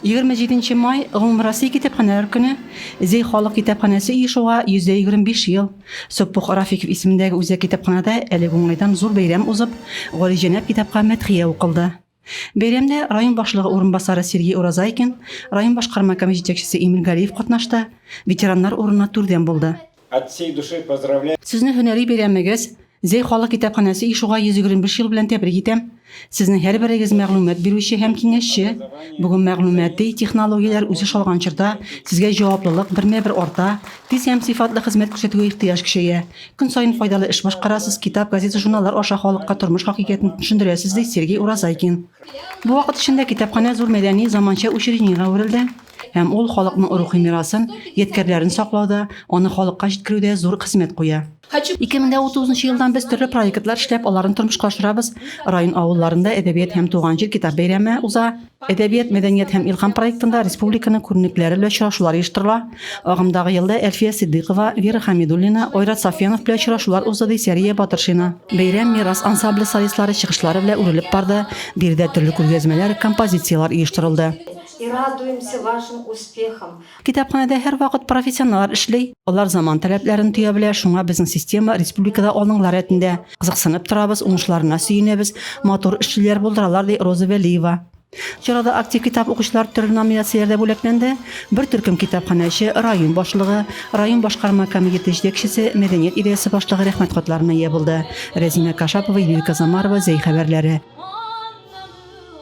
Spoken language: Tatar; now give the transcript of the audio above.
Егерме җиденче май, Гомумроссия китапханәләр көне, Зәй халык китапханәсе оешуга 125 ел, Соппух Рафиков исемендәге үзәк китапханәдә әлеге уңайдан зур бәйрәм узып, галиҗәнап китапка мәдхия укылды. Бәйрәмдә район башлыгы урынбасары Сергей Уразайкин, район башкарма комитет җитәкчесе Эмиль Галиев катнашты, ветераннар урынына түрдән булды. От всей души поздравля. Сезне һөнәри бәйрәмегез, Зәй халык китапханәсе ишуга 125 ел белән тәбрик итәм. Сезнең һәрберегез мәгълүмат бирүче һәм киңәшче. Бүген мәгълүмати технологияләр үсеш алган чорда сезгә җаваплылык бермә-бер арта, тиз һәм сыйфатлы хезмәт күрсәтүгә ихтыяҗ көчәя. Көн саен файдалы эш башкарасыз, китап, газета-журналлар аша халыкка тормыш хакыйкатен төшендерәсез, ди Сергей Уразайкин. Бу вакыт эчендә китапханә зур мәдәни, заманча учреждениегә әверелде. Һәм ул халыкның рухи мирасын, ядкәрләрен саклауда, аны халыкка җиткерүдә зур хезмәт куя. 2030 нчы елдан без төрле проектлар эшләп, аларны тормышка ашырабыз. Район авылларында Әдәбият һәм туган җир китап бәйрәме уза. Әдәбият, мәдәният һәм илһам проектында республиканың күренекләре белән очрашулар оештырыла. Агымдагы елда Әлфия Сыйдыйкова, Вера Хәмидуллина, Айрат Сафьянов белән очрашулар узды, ди Сәрия Батыршина. Бәйрәм Мирас ансамбле солистлары чыгышлары белән үрелеп барды, биредә төрле күргәзмәләр, композицияләр оештырылды. И радуемся вашим успехам. Китапханәдә һәрвакыт профессионалар эшли, алар заман таләпләрен тоя белә, шуңа безнең система республикада алынглар рәтендә. Кызыксынып торабыз, уңышларына сөенәбез, матур эшчеләр булдыралар, ди Роза Вәлиева. Чарада актив китап укучылар төрле номинацияләрдә бүләкләнде. Бер төркем китапханәче, район башлыгы, район башкарма комитеты җитәкчесе, мәдәният идарәсе башлыгы рәхмәт хатларына ия булды. Рәзимә Кашапова, Юлия Казамарова, Зәй хәбәрләре.